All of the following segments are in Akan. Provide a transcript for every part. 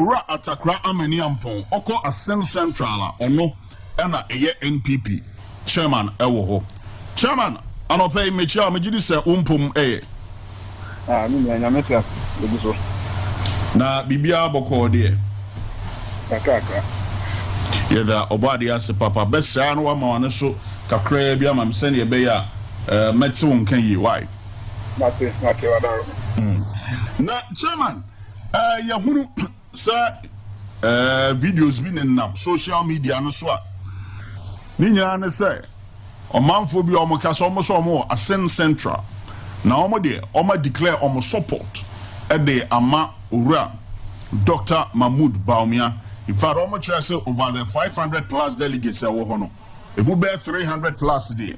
Owura Atakra Amani Ampong ɔkɔ Assin Central a ɔno ɛna ɛyɛ NPP Chairman ɛwɔ hɔ. Chairman, anɔpa yi mekyia wo, megyedi sɛ wo mpom ɛyɛ. Ah, me nua, nyame te ase, yɛgu so. Na biribiara bɔkɔɔ deɛ? Kakrakra. Yɛda ɔbɔ adeɛ ase papa. Bɛsɛa no wama w'ano so kakraa bi ama me sɛdeɛ ɛbɛyɛ a mɛte wo nka yie. Why? Mate mate ɔdaro no. Mm. Na chairman, uh, yɛhunu sɛ uh, videos bi nenam social media no so a ne nyinaa ne sɛ ɔmanfoɔ bi a wɔn ka sɛ wɔn sɛ wɔn wɔ Asen Central na wɔn deɛ wɔn declare wɔn support de ama owura Dr. Mahmood Bawumia in fact wɔn kyerɛ sɛ over the five hundred plus delegates ɛwɔ hɔ no emu bɛyɛ three hundred plus deɛ.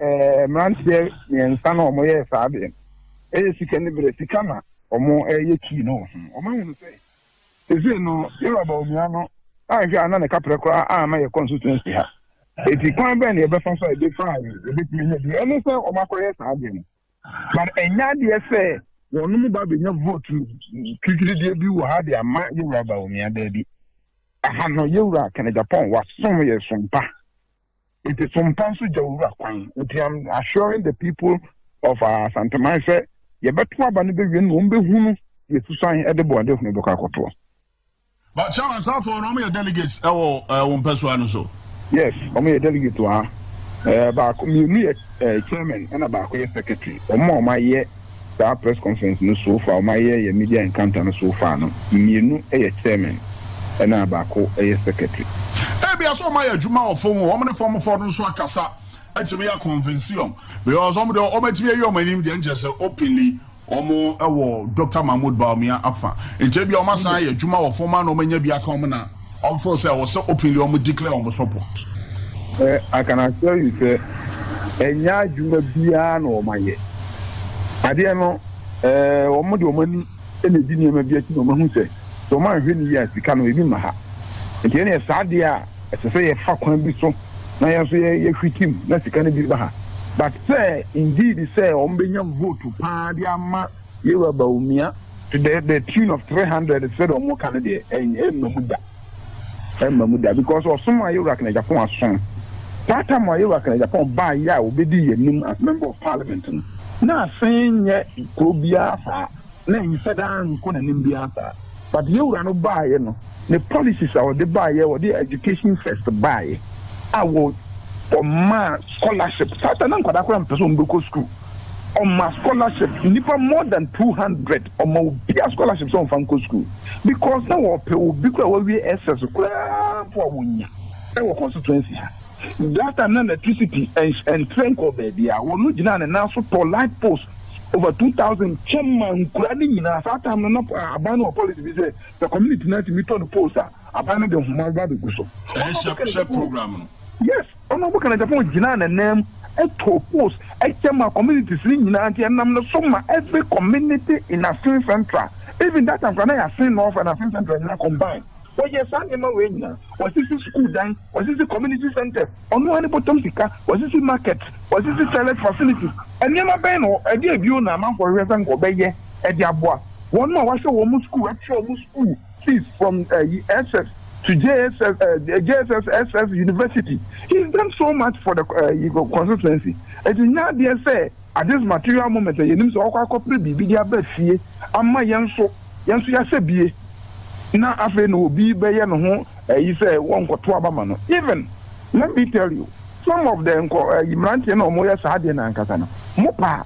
Mmeranteɛ mmiɛnsa no a wɔyɛɛ saa adeɛ no, ɛyɛ sika ne berɛ, sika na wɔyɛ kii no wɔ ho. Wɔahunu sɛ seesei no Yɛreba onua no anhwɛ a na ne kaprɛ koraa amma yɛ constituency ha. Enti kwan bɛn na yɛbɛfa so a ɛbɛfa a yɛbɛtumi anya bi? Ɛne sɛ wɔakɔyɛ saa adeɛ no. But ɛnyɛ adeɛ sɛ wɔnom ba bɛnya vote titirideɛ bi wɔ ha de ama Yɛwura Bawumia daabi. Aha no Yɛwura Kenneth Agyapong wasom yɛ som pa. Nti so mpa nso gya owura kwan? Nti am assuring the people of uh, Asanteman sɛ yɛbɛto aba no bɛwie no na wɔn bɛhunu deɛ susan ɛde bɔ ɔde hunu bɛkɔ akɔtoɔ. But chairman Safo no wɔn yɛ delegates ɛwɔ ɛwɔ mpɛsoa no so. Yes, wɔn yɛ delegates wɔ ha. Ɛɛ baako mmienu yɛ ɛɛ chairman ɛna baako yɛ secretary. Wɔn a wɔn ayɛ. saa press conference no so far, wɔayɛ yɛn media encounter no so far no, mmienu yɛ chairman ɛna baako yɛ secretary. Ebia sɛ wɔayɛ adwuma wɔ fam hɔ, wɔn ne fam foɔ no nso akasa atumi a convince wɔn because wɔn deɛ wɔn atumi ayi wɔn anim deɛ nkyɛ sɛ openly wɔn wɔ Doctor Mahmoud Bawumia afa, nkyɛ ebia wɔn asan ayɛ adwuma wɔ fam a na wɔn anya bi aka wɔn na. Wɔn feel sɛ ɛwɔ sɛ openly wɔn declare wɔn support. I can assure you sɛ ɛnyɛ adwuma biara na wɔn ayɛ. Adeɛ no eh wɔn de wɔn ani na edi nneɛma bi akyi na wɔn ahu sɛ sɛ wɔn anhwɛ no yie a sika no ebi mma ha. Nti ɛneɛ saa adeɛ a ɛsɛ sɛ yɛfa kwan bi so na yɛn nso yɛ hwitim na sika no bi ba ha. But sɛ indeed sɛ wɔn bɛnya vote paa de ama. Yewa Bawumia to the the tune of three hundred sɛ deɛ wɔn ka no deɛ ɛnyɛ ɛmma mu da ɛmma mu da because ɔsom a Yewa Kanagyapɔn asom that time a Yewa Kanagyapɔn baa yɛ a wɔbɛdi yɛn anim as member of parliament no na asen nyɛ kuro biara saa na nsɛ daa nkɔ n'anim biara saa but Yewura no baa yɛ no ne policies a wɔde baa yɛ wɔde education first baa yɛ a wɔ ɔmaa scholarship saa ta na nkwadaa koraa mpɛ sɛ wɔn bɛkɔ school. Ɔma scholarship nnipa more than two hundred ɔma obiara scholarship sɛ ɔnfa nkɔ school because na wɔpɛ obi koraa wawie SS koraa mpo a wɔnya ɛwɔ constituency ha that time na electricity ɛntrɛ nkɔ baabi a wɔn gyina ne nan so tɔ light post over two thousand kyɛ ma nkura ne nyinaa saa time no na aban no wɔ policy bi sɛ the community na tumi tɔ no post a aban no de nhoma ba bɛgu so. ɛhyɛ program no. yes. Ɔno a wɔka no Japan gyinaa n'ananmu too post kyɛ maa communities no nyinaa nti ɛnam ne so ma every community in Asin Central even that time koraa na ɛyɛ Asin North and Asin Central nyinaa combine wɔyɛɛ saa nneɛma wei nyinaa wɔasisi sukuu dan wɔasisi community centres ɔno ara ne bɔtɔm sika wɔasisi markets wɔasisi toilet facilities nneɛma bɛn na ɛdeɛ bio na amanfoɔ hwehwɛ sɛ nka ɔbɛyɛ de aboa wɔn a wɔahyɛ wɔn sukuu atua wɔn sukuu He's from SS to JSS, uh, JSS SS University. He's done so much for the uh, constituency. It is not there say at this material moment yɛ nim sɛ ɔkɔ akɔpere biribi de aba fie ama yɛn nso yɛn nso yɛasɛ bie na afei na obi bɛyɛ ne ho ɛyi sɛ wɔnkɔto aba ma no even let me tell you some of the nkɔ ɛyi mmeranteɛ na wɔyɛ saa deɛ na ankasa no mo paa.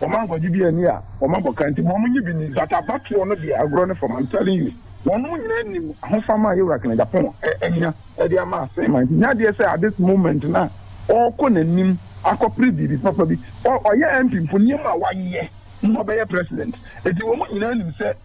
Wɔn ankwagye bi anni a wɔn abɔ ka nti ma wɔn nye bi nni but abatoɔ no deɛ agorɔ ne fam I'm telling you. Wɔnom nyinaa nim ahofama a Yewura Kennedy Aponwo anya de ama asen man nti nyɛ adeɛ sɛ at this moment no a ɔɔkɔ nanim akɔpere biribi papa bi. Ɔyɛ MP mpo nneɛma a wayɛ mma ɔbɛyɛ President nti wɔnom nyinaa nim sɛ.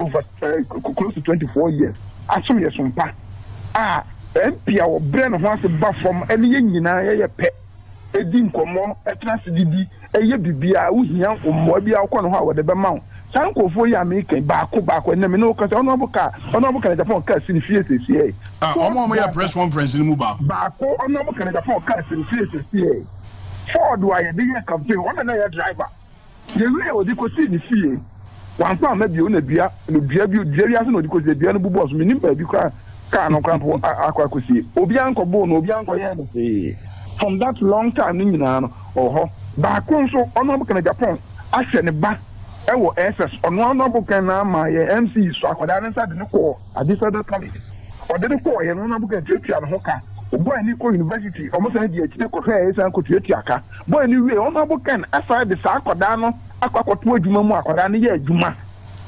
over eh, close to twenty four years asom yɛ som pa a MP a wɔbrɛ ne ho ase ba fam ne yɛn nyinaa yɛyɛ pɛ ɛdi nkɔmmɔ ɛtena ase didi ɛyɛ biribiara wohia mmoa biara wokɔ ne hɔ a wɔde bɛma wo saa nkurɔfoɔ yi a meka baako baako ɛnna me ne wokasa ɔno abo ka ɔno abo ka ne japan kaa si ne fie sɛsiɛ Ah, wɔn a wɔyɛ press conference no mu baako. baako ɔno abo ka ne japan kaa si ne fie sɛsiɛ ford a yɛde yɛ campaign ɔna na yɛ driver Yɛwiee a ɔde kɔsii ne fie. Wamfa amma bio na dua no dua bi dua bi ase na ɔde kɔsiee. Dua no bobɔɔ so. Mennim baabi koraa a kaa no koraa mpo a akɔ akɔsie. Obiara nkɔboo no, obiara nkɔyɛɛ no hwee. From that long time no nyinaa no, ɔwɔ hɔ. Baako nso, ɔno ara bokan Japan ahwɛ ne ba wɔ SS. Ɔno ara no abokan na ama yɛn MC sɔ akwadaa no nsa de no kɔɔ Adisadel College. Ɔde no kɔeɛ no, ɔno ara bokan tuatua ne ho ka. Ɔbɔɔ ani kɔɔ university, wɔsan dii akyire kɔhwɛeɛ san kɔtuatua ka. bɔe no wiei, Ɔsɔfo Ken san de saa akwadaa no akɔ akɔto adwuma mu a akwadaa no yɛ adwuma.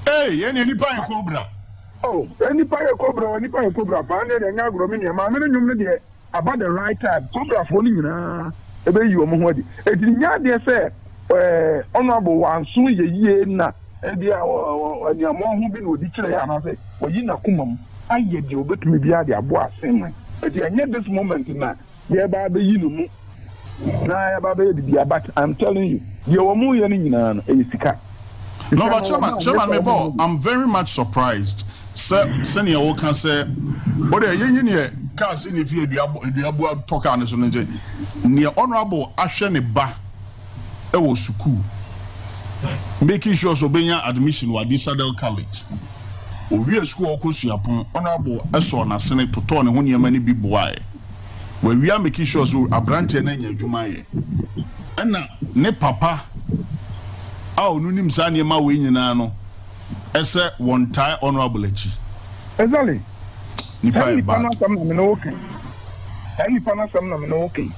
Ei, yɛn deɛ nnipa yɛ kobra. Oh, yɛn nnipa yɛ kobra o, nnipa yɛ kobra paa, ɛnneɛ deɛ ɛnyɛ agorɔ, me nua, Maame no nnwom no deɛ aba the right time, kobrafoɔ no nyinaa ɛbɛyi wɔn ho adi, enti nyɛ adeɛ sɛ eh, Honourable wanso yɛ yie na ebia aniammɔn ho bi na ɔdi kyerɛ yɛ anaasɛ wayi n'akomam ayɛ deɛ ɔbɛtumi biara de aboa asɛm no, enti ɛnyɛ this moment na. Yɛreba abɛyi no mu na yɛaba abɛyɛ biribi a but I'm telling you deɛ wɔn reyɛ no nyinaa no ɛyɛ sika. No but chairman chairman me bɔ I'm very much surprised sɛ sɛnea woka sɛ o deɛ yɛyi neɛ kaa si ne fie dua dua bua tɔ kaa ne so no nti neɛ honourable ahwɛ ne ba ɛwɔ sukuu making sure sɛ obɛnya admission wɔ Adisadel College owie sukuu ɔkɔ suapɔn honourable ɛsɔɔ n'asene totɔɔ ne ho nneɛma no bi boaɛ. Wawia making sure sɛ aberanteɛ no anya adwuma ayɛ. Ɛna ne papa a ɔno nim saa nneɛma wei nyinaa no ɛsɛ wɔn tae honourable akyi. Ɛzali, saa nipa no asɛm na me ne wo ka yi. Saa nipa no asɛm na me ne wo ka yi.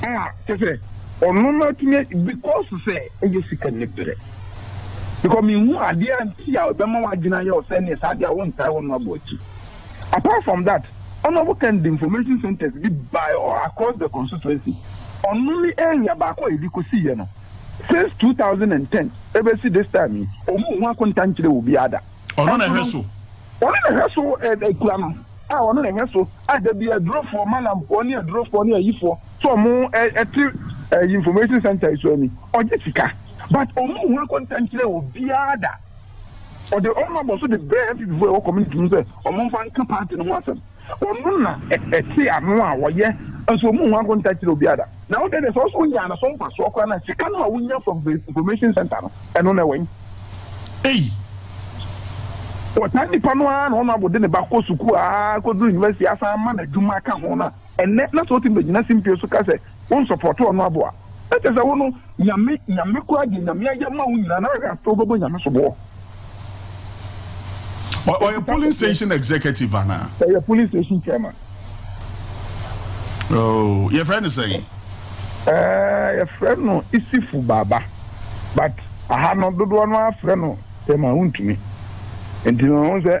A kyɛ sɛ ɔno no atumi because sɛ ɛyɛ sika ne berɛ. Because mehu adeɛ a nti a ɛbɛma w'adwene ayɛ wo sɛ neɛ saa deɛ a wontae honourable akyi. Apart from that, ɔno ɔwɔ kan de information centres bi bae all across the constituency. Ɔno ne area baako a yɛde kɔsiiɛ no. Since two thousand and ten ɛbɛsi this time yi, wɔnhu akonta nkyerɛɛ obiara da. Ɔno na ɛhwɛ so. Ɔno na ɛhwɛ so akura no a ɔno na ɛhwɛ so a da bi adurofoɔ, malamfoɔ ne adurofoɔ ne ayifoɔ sɛ wɔn ɛte information centre yi so ani ɔgye sika but wɔnhu akonta nkyerɛɛ obiara da. Ɔde ɔno abɔso de brɛɛ MPPfoɔ a ɛwɔ community mu sɛ wɔmfa nka party no ho asɛm. Ɔno na ɛte ano a wɔyɛ nso wɔn ho akonta kyerɛ obiara da. Na wo dede sɛ ɔso onyaa ne so mfasoɔ koraa na sika no a wonya from the information center no ɛno na ɛwɛn. Ei. Wɔtaa nnipa no ara na Honourable de ne ba kɔ sukuu ara kɔduru university asan ma no adwuma ka ho no a ɛnnɛ na sɛ ɔtumi bɛgyina simpie so ka sɛ wo nsɔpɔɔto ɔno aboa na kyɛ sɛ wo no nyame nyame koraa deɛ nyame ayɛ ma wo nyinaa na wɛhwɛ afei wobɛbɔ nyame soboɔ. ɔyɛ polling station executive anaa. ɔyɛ polling station chairman. Oh, yɛfrɛ no sɛn eh, yɛfrɛ no isifu baaba but aha no dodoɔ no afrɛ no tɛma wontumi nti no ho sɛ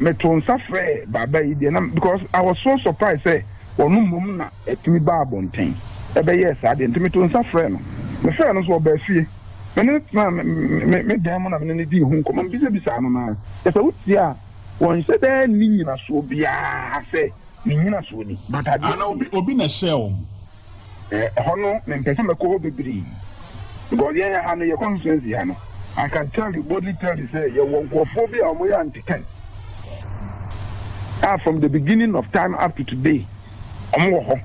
Me too nsa frɛɛ Baba yi deɛ na because I was so surprised sɛ ɔno mmom na ɛtumi baa abɔnten ɛbɛyɛɛ saa deɛ nti me too nsa frɛɛ no. Me frɛɛ no nso ɔbaa fie. Me ne no tenaa me me me dan mu na me ne no dii ho nkɔmmɔ. Me bisabisaa no na kyɛ sɛ wo tie a wɔnhyɛ da nni nyinasoɔ biara sɛ ne nyinasoɔ ni but adeɛ Ana obi obi na ɛhyɛɛ wɔn? Ɛhɔ no mempɛ sɛ mɛkɔ hɔ bebree because yɛn yɛ ha no yɛ constituency ha no I can tell you boldly tell you sɛ yɛwɔ nkurɔfoɔ bi a wɔyɛ antekan a from the beginning of time up to today wɔn wɔ hɔ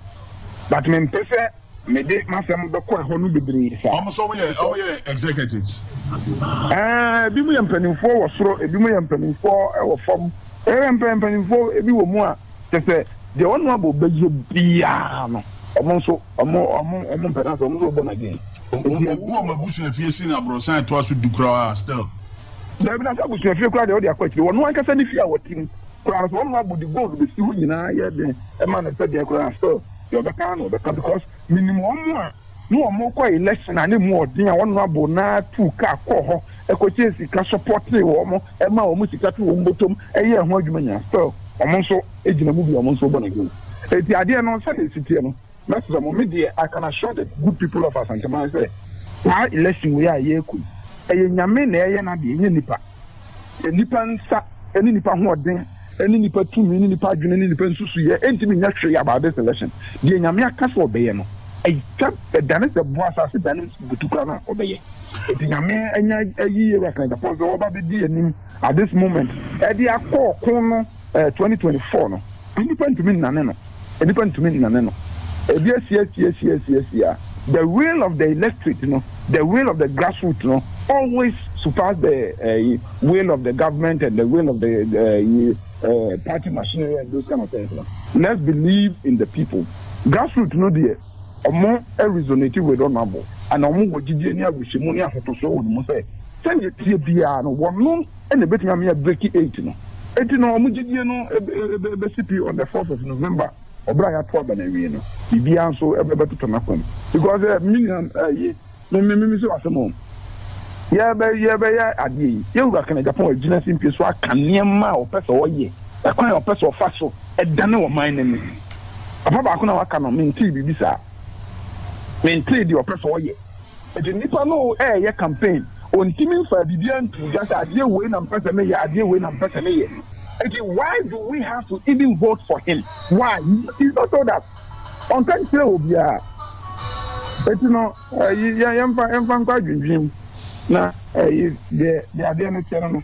but mempɛ sɛ mede m'asɛm bɛkɔ ɛhɔ no bebree saa. Wɔn nso wɔyɛ wɔyɛ executives. Ɛɛ ebi mu yɛ mpanimfoɔ wɔ soro ebi mu yɛ mpanimfoɔ wɔ fam ɛyɛ mpanimfoɔ ebi wɔ mu a. Kyɛ sɛ deɛ ɔno abɔ bɛyɛ biara no, wɔn nso wɔn mpɛ na sɛ wɔn nso wɔbɔ no again. Obu wɔn abusuafie sen aborɔsan a ɛtoa so du koraa a still. Daabi na sɛ abusuafie koraa deɛ ɔde akɔ akyire. Wɔn ankasa ne fie a wɔte mu koraa no sɛ wɔn abɔ de gold bɛsi hɔ nyinaa yɛ den ɛma no sɛ deɛ koraa still deɛ ɔbɛka na ɔbɛka because menim wɔn a Na wɔkɔ election a ne mu ɔden a honourable no ara tuu car kɔɔ hɔ kɔkyɛɛ sika supportee wɔn maa wɔn sika too wɔn bɔtɔm yɛɛ ho adwuma nyinaa still wɔn nso gyina mu bi wɔn nso bɔ n'adwuma eti adeɛ no sɛdeɛ esi teɛ no mɛsrɛ mo me deɛ I can assure the good people of Asanteman sɛ saa election wei a yɛrekɔ yi ɛyɛ nyame na ɛyɛ n'adeɛ ɛnyɛ nipa. Nnipa nsa ne nnipa hoɔden ne nnipa tumi ne nnipa adwene ne nnipa nsusuiɛ ntumi nyɛ hwee about this election. Deɛ Nyame aka sɛ ɔbɛyɛ no, atwa ɛdane sɛ boɔ asase dane butu koraa no a, ɔbɛyɛ. Nti Nyame anya ayi Ewura Sena Gyapong sɛ ɔba bɛdi anim at this moment ɛde akɔ ɔko no. eh, 2024 no, nnipa ntumi nnane no, nnipa ntumi nnane no, ebi asiasiasiasiasia, the will of the electorate no, the will of the grassroots no, always surpass the uh, will of the government and the will of the uh, uh, party machinery and those kind of things no. Let's believe in the people. Grassroots no deɛ, ɔmo resonate with ɔmo abo, and ɔmo wɔ gyidie ne abusuamu ne ahotoso wɔ ɔmo sɛ, sɛdeɛ tie biara no, wɔn no ɛna ebetumi ama yɛ break eight no eti no wɔn gyidie no ebesi pi on the fourth of november ɔbɛrɛ a yɛato aba na awie no biribiara nso ɛbɛtotɔ n'akɔm because ɛɛ minia ɛyi mmemmemi sɛ wasɛm o yɛbɛ yɛbɛyɛ adeɛ yi yɛwura kan japan agyina si mpie so aka nneɛma a ɔpɛ sɛ ɔyɛ ɛkwan a ɔpɛ sɛ ɔfa so ɛdane ɔman no ni papa baako na waka no mentee biribi saa mentee deɛ ɔpɛ sɛ ɔyɛ Enti nnipa no reyɛ campaign, wɔntumi mfaa biribiara ntoo dwa sɛ adeɛ wei na mepɛ sɛ meyɛ, adeɛ wei na mepɛ sɛ meyɛ. Enti why do we have to even vote for him? Why? He he not told us. Ɔnka nkyerɛɛ obiara. Enti no, ɛyi, yɛn, yɛmfa, yɛmfa nkɔ adwendwen mu na ɛyi, deɛ, deɛ adeɛ no teɛ no no.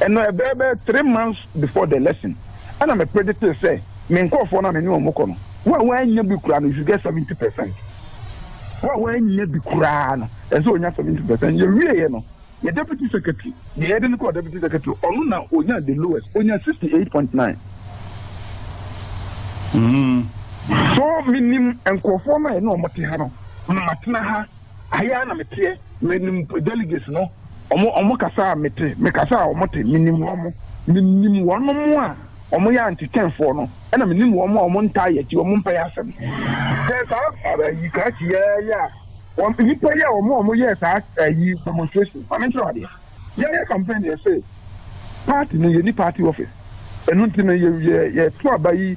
Ɛno ɛbɛyɛ bɛyɛ three months before the election ɛna me predictee sɛ me nkurɔfoɔ no a me ne wɔn kɔ no, wo a woannya bi koraa no you should get seventy percent. Wo a woannya bi koraa no, ɛsɛ sɛ ɔnya seventy percent. Yɛwieeɛ no, yɛ deputy secretary, deɛ yɛde no kɔɔ deputy secretary, ɔno na ɔnya the lowest, ɔnya sixty eight point nine. So menim nkurɔfoɔ no a yɛne wɔn te ha no, na matena ha. ha yi ara na meteɛ, menim delegates no, wɔn wɔn kasa a mete, me kasa a wɔn te, menim wɔn, menim wɔn a wɔn yɛ antikyɛnfoɔ no, ɛna menim wɔn a wɔn ntaa yɛ akyi, wɔn mpɛ yɛ asɛm. Sɛ saa ayi krakye yɛ yɛ a, wɔn nipa yi a wɔn a wɔn yɛ saa ayi demonstration, maame nkyerɛ adeɛ, yɛ yɛ campaign yɛ sɛ party no yɛ ni party office, ɛnu nti no yɛ yɛ yɛ to aba yi.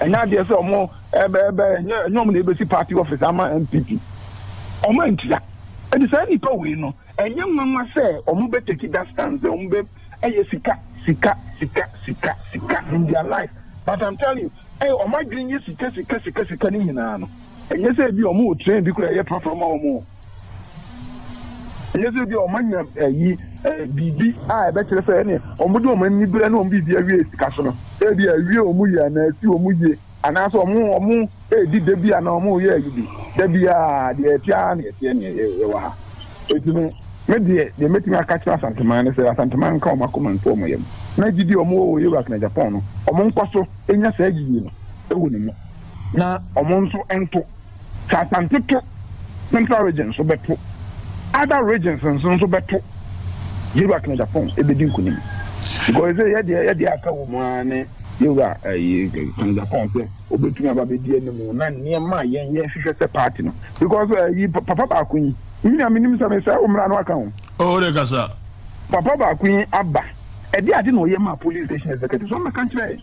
Ɛnyɛ adeɛ sɛ ɔmo ɛbɛ ɛbɛ ɛnyɛ ɛnyɛ ɔmo na ebesi party office ama NPP. Ɔmo antua. Ɛnti saa nipa wei no ɛnyɛ nwanwa sɛ ɔmo bɛ take that stand sɛ ɔmo bɛ ɛyɛ sika sika sika sika sika in their life but I'm telling you ɛyɛ ɔmo adwene yɛ sika sika sika sika ne nyinaa no ɛnyɛ sɛ ebi ɔmo wɔ train bi koraa ɛyɛ prɔprɔ ma ɔmo. Ɛnyɛ sɛ ebia wɔanya ayi biribi a ɛbɛkyerɛ sɛ ɛne wɔde wɔn ani berɛ ne wɔn biribi awie sika so no. Ebia awie wɔn yie anaa asi wɔn yie anaasɛ wɔn wɔn redi da bi anaa wɔn reyɛ ayi bi. Da biara deɛ ɛte ara na ɛteɛ ne ɛwɔ ha. Eti no, me deɛ deɛ mɛtumi aka akyerɛ Asanteman ne sɛ Asanteman nka wɔn akoma nto wɔn yam na gyidi a wɔn wɔ wɔ Iraq na Japan no, wɔn nkɔ so nya saa gyidie no wɔ ne mu na wɔn nso nto Sɛ Asante to, Central Region nso bɛto. Other regions nso nso bɛto. Yewura Kennedy Aponng ebedi nkunim. Because sɛ yɛ deɛ yɛ deɛ aka wɔ mu ara ne Yewura ɛyi eh, Kennedy Aponng sɛ obetumi aba bedi anim na nneɛma a yɛn yɛn hwehwɛ sɛ party no. Because ɛyi eh, papa baako yi, mmiri a menim sɛ mesɛ o mmara no aka ho. Oh, de kasa. Papa baako yi aba, ɛde ade na ɔyɛ maa police station executive, so ɔmmɛka nkyerɛ yɛn.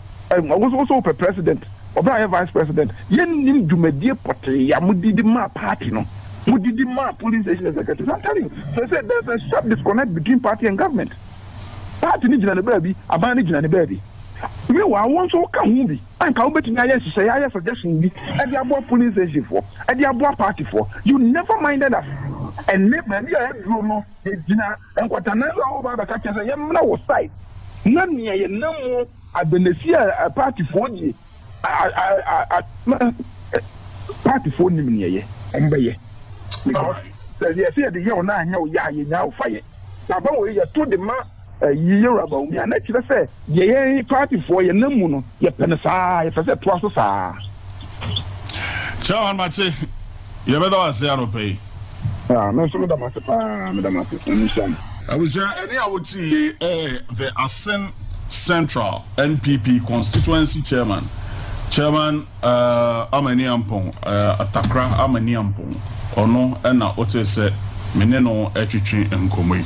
wosowosowpɛ president ɔbra yɛ vice president yɛnnim dwumadie pɔtee ya modidi maa party no modidi maa polling station executives I'm telling you sɛ sɛ there's a sharp disconnect between party and government party no gyina ne baabi aban no gyina ne baabi mewa wo nso woka ho bi anka wobɛtumi ayɛ nhyehyɛeɛ ayɛ suggestion bi ɛde aboa polling station foɔ ɛde aboa party foɔ you never minded us ɛnɛ baabi a ɛduro no yɛgyina Nkwata nanso a woba abɛka kyerɛ sɛ yɛmmra wo side na nea yɛnam mu adanasi a partyfoɔ die a partyfoɔ nim nea ɛyɛ wɔn bɛyɛ because sɛ yɛsɛ yɛde yɛ wo na anyɛ wo yɛ a yɛnyaa wo fa yɛ na aba wɔ yɛto de ma ɛyi yɛ wura bawo mi a na kyerɛ sɛ deɛ yɛn partyfoɔ yɛnam mu no yɛpɛ no saa yɛpɛ sɛ ɛtoa so saa. Chairman Mate. Yɛbɛda wo ase anɔpa yi. Ah, me nso meda mo ase paa, meda mo ase. Nyame nhyira mo. Abusua, ɛne a wote yi yɛ The Asin Central NPP Constituency Chairman, Chairman uh, Amani Ampong, uh, Atakra Amani Ampong. Ɔno na wote sɛ me ne no ɛtwetwe nkɔmmɔ yi.